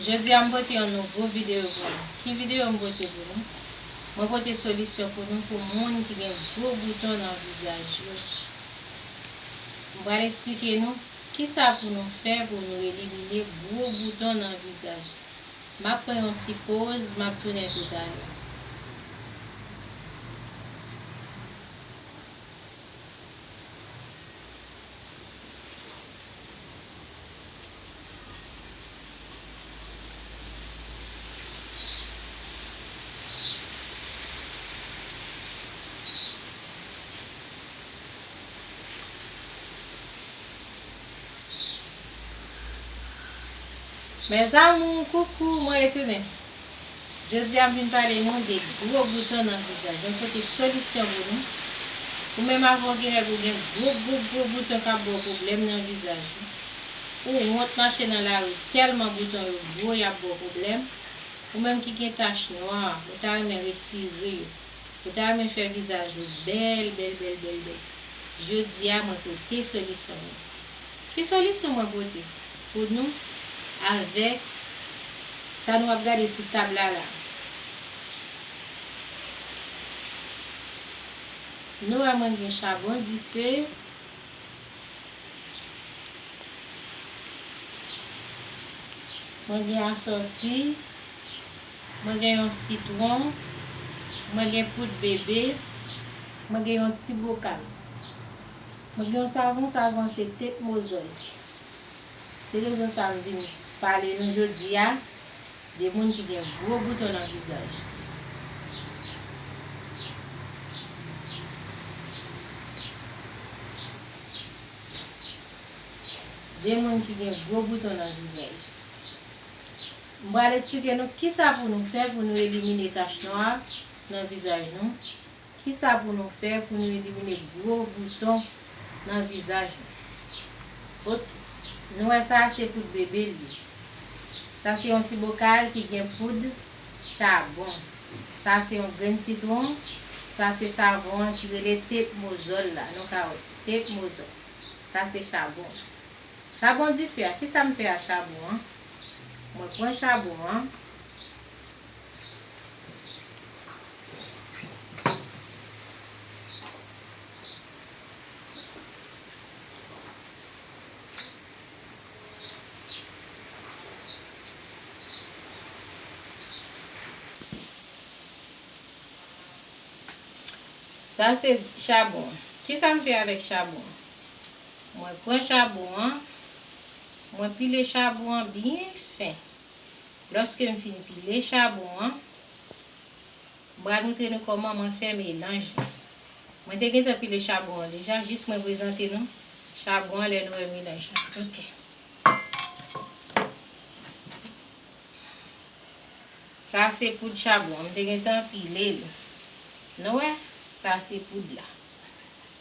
Jodi a m pote yon nouvo videyo pou nou. Ki videyo m pote pou nou? Mwen pote solisyon pou nou pou moun ki gen gwo bouton nan vizaj yo. M pral esplike nou kisa pou nou fè pou nou elimine gwo bouton nan vizaj. M ap pran yon ti poz, m ap tounen toutalè. Mes amours coucou mwen retounen. Jodi a m vin pale nou de gwo bouton nan vizaj. Mwen pote solisyon pou nou. Ou menm avè w gen règ ou gen gwo gwo gwo bouton k ap ba w pwoblèm nan vizaj ou. Ou wont mache nan lari tèlman bouton yo gwo y ap ba w pwoblèm. Ou menm ki gen tach nwa, ou ta renmen retire yo. Ou ta renmen fè vizaj ou bèl bèl bèl bèl bèl. Jodi a mwen pote solisyon mwen. Ki solisyon mwen pote? pou nou avèk sa nou ap gade sou tab la la. Nou wè mwen gen chabon dife. Mwen gen asòsi. Mwen gen yon sitwon. Mwen gen poud bebe. Mwen gen yon ti bokal. Mwen gen yon savon, savon an se Tête Mozòl. Se rezon sa m vin pale nou jodi a de moun ki gen gwo bouton nan vizaj. De moun ki gen gwo bouton nan vizaj. M pral esplike nou kisa pou nou fè pou nou elimine tach nwa nan vizaj nou. Kisa pou nou fè pou nou elimine gwo bouton nan vizaj nou? Ok nou wè sa se poud bebe li ye. Sa se yon ti bokal ki gen poud chabon. Sa se yon grenn sitwon. Sa se savon an ki rele tepmozòl la nou ka wè tepmozòl. Sa se chabon. Chabon dife a kisa m fè a chabon an? Mwen pran chabon an. Sa se chabon. Kisa m fè avèk chabon? Mwen pran chabon an, mwen pile chabon an byen fen. Lòske m fin pile chabon an, m pral moutre nou kòman mwen fè melanj la. Mwen te gentan pile chabon an deja, jis mwen prezante nou chabon an lè nou wè melanj la ok. Sa se poud chabon an, m te gentan pile li. Nou wè, sa se poud la.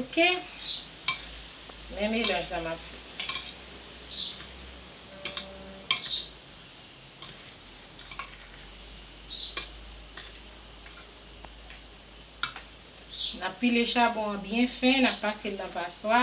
Ok men melanj la map fè. Nap pile chabon an byen fen nap pasel nan paswa.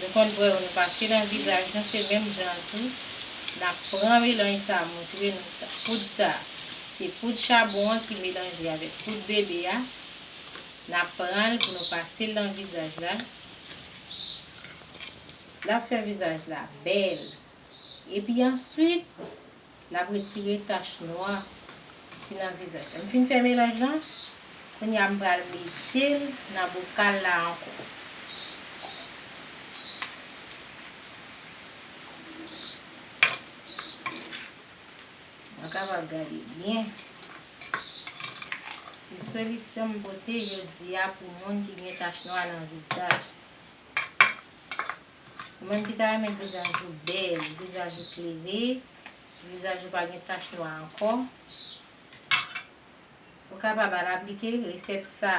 Nou konn bwè yo nou pase nan vizaj nou se menm jan an tou nap pran melanj sa moutre nou sa poud sa se poud chabon an ki melanje avèk poud bebe a nap pranl pou nou pasel nan vizaj la lap fè vizaj la bèl epi answit L ap retire tach nwa ki nan vizaj la. M fin fè melanj lan. Kounye a m pral mete l nan bokal la ankò. Mwen kapab gade byen. Se solisyon m pote jodi a pou moun ki gen tach nwa nan vizaj. Ou menm ki ta renmen vizaj ou bèl, vizaj ou klere, vizaj ou pa gen tach nwa ankò, ou kapab al aplike resèt sa.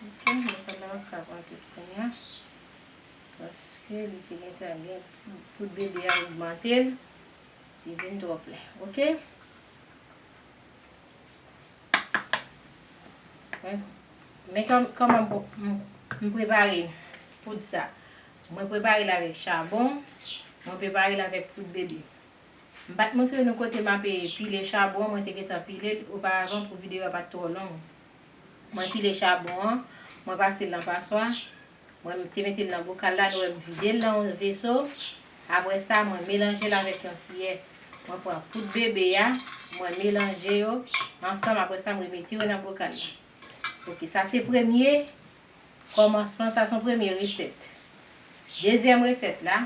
Ok, mètòd la pa pral pran tout kounya. Paske li te gentan gen poud bebe a ogmante l, li vin twò plen. Ok. Men kòman m prepare poud sa. Mwen prepare l avèk chabon, mwen prepare l avèk poud bebe. M pa t montre nou kote m ape pile chabon an, mwen te gentan pile l oparavan pou videyo a pa t twò long. Mwen pile chabon an, mwen pase l nan paswa, Mwen te mete l nan bokal la, nou wè m vide l nan yon veso. Apre sa, mwen melanje l avèk yon kiyè. Mwen pran poud bebe a, mwen melanje yo ansanm apre sa m remete yo nan bokal la. Ok, sa se premye kòmansman, sa se yon premye resèt. Dezyèm resèt la,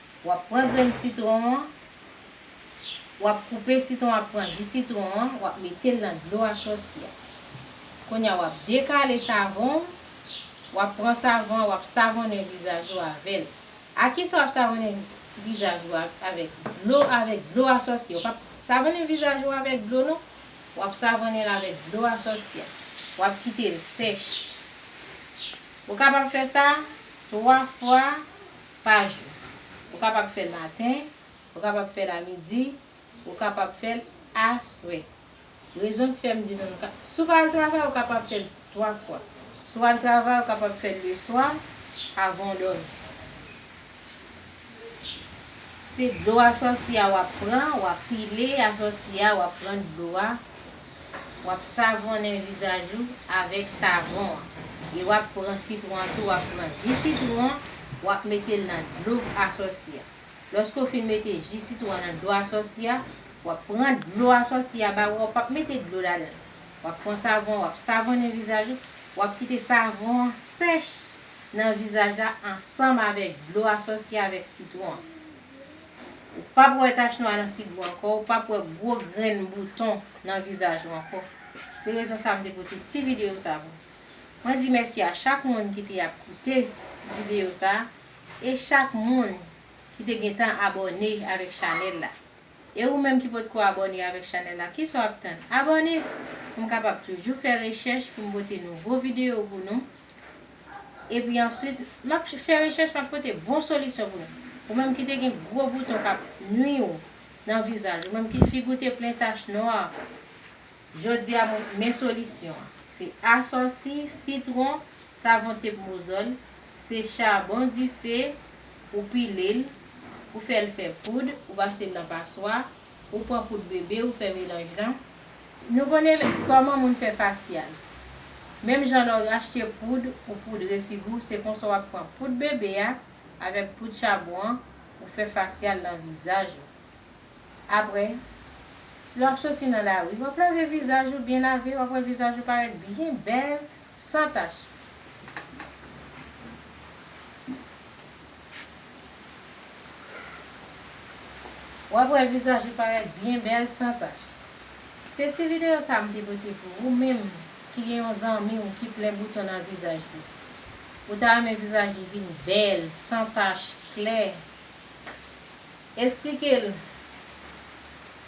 Wap pran grenn sitron an, wap koupe sitron ap pran ji sitron an, wap metel nan dlo a sòsyè. Kounya wap dekale savon w, wap pran savon an wap savonnen vizaj ou avèl. A kisa wap savonnen vizaj ou avèk dlo avèk dlo a sòsyè. Ou pap savonnen vizaj ou avèk dlo non, wap savonnenl avèk dlo a sòsyè. Wap kitel sèch. Ou kapab fè sa 3 fwa. pa jou. Ou kapab fè l maten, ou kapab fè l a midi, ou kapab fè l aswè. Rezon k fè m di nou nou ka, si w pa al travay ou kapab fè l 3 fwa. Si w al travay ou kapab fè l leswa avan w dòmi. Se dlo asòsi a w ap pran, w ap pile asòsi a, w ap pran dlo a. Wap savonnen vizaj ou avèk savon an e wap pran sitwon an tou wap pran ji sitwon an wap metel nan dlo asòsi a lòske ou fin mete ji sitwon an nan dlo asòsi a wap pran dlo asòsi a ba ou a ou pap mete dlo ladanl wap pran savon an wap savonnen vizaj ou wap kite savon an sèch nan vizaj la ansanm avèk dlo asòsi a avèk sitwon an. Ou p ap wè tach nwa nan figi w ankò, ou p ap wè gwo grenn bouton nan vizaj ou ankò. Se rezon sa m te pote ti videyo sa pou. Mwen di mèsi a chak moun ki te ap koute videyo sa e chak moun ki te gentan abòne avèk chanèl la. E ou menm ki potko abòne avèk chanèl la, kisa w ap tann? Abòne pou m kapab toujou fè rechèch pou m pote nouvo videyo pou nou. Epi answit map fè rechèch map pote bon solisyon pou nou. Ou menm ki te gen gwo bouton kap nwi ou nan vizaj, ou menm ki figi w te plen tach nwa, jodi a men solisyon an. Se asòsi, sitwon, savon tep mozòl, se chabon dife, ou pile l, ou fè l fè poud, ou pase l nan paswa, Ou pran poud bebe ou fè melanj lan. Nou konnen lè kòman moun fè fasyal. Menm jan lè w rachte poud ou poudre figi w se konsa w ap pran poud bebe a avèk poud chabon an ou fè fasyal nan vizaj ou. Aprè lè w ap soti nan lari w ap lave vizaj ou byen lave w ap wè vizaj ou parèt byen bèl San tach. Wap wè vizaj ou parèt byen bèl san tach. Se ti video sa m te pote pou ou menm ki gen yon zanmi w ki plen bouton nan vizaj li. Ou ta renmen vizaj li vin bèl, san tach, klè. Esplike l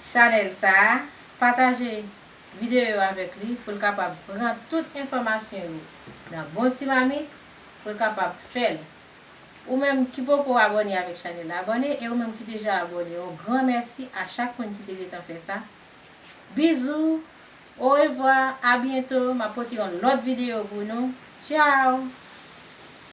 chanèl sa, pataje. videyo yo avèk li pou l kapab pran tout enfòmasyon yo nan bon ti mamit pou l kapab fè l. Ou menm ki poko abòne avèk chanèl la abòne e ou menm ki deja abòne yon gran mèsi a chak moun ki te gentan fè sa. Bizou, orevwa, abyento, m ap pote yon lòt videyo pou nou. Tchao!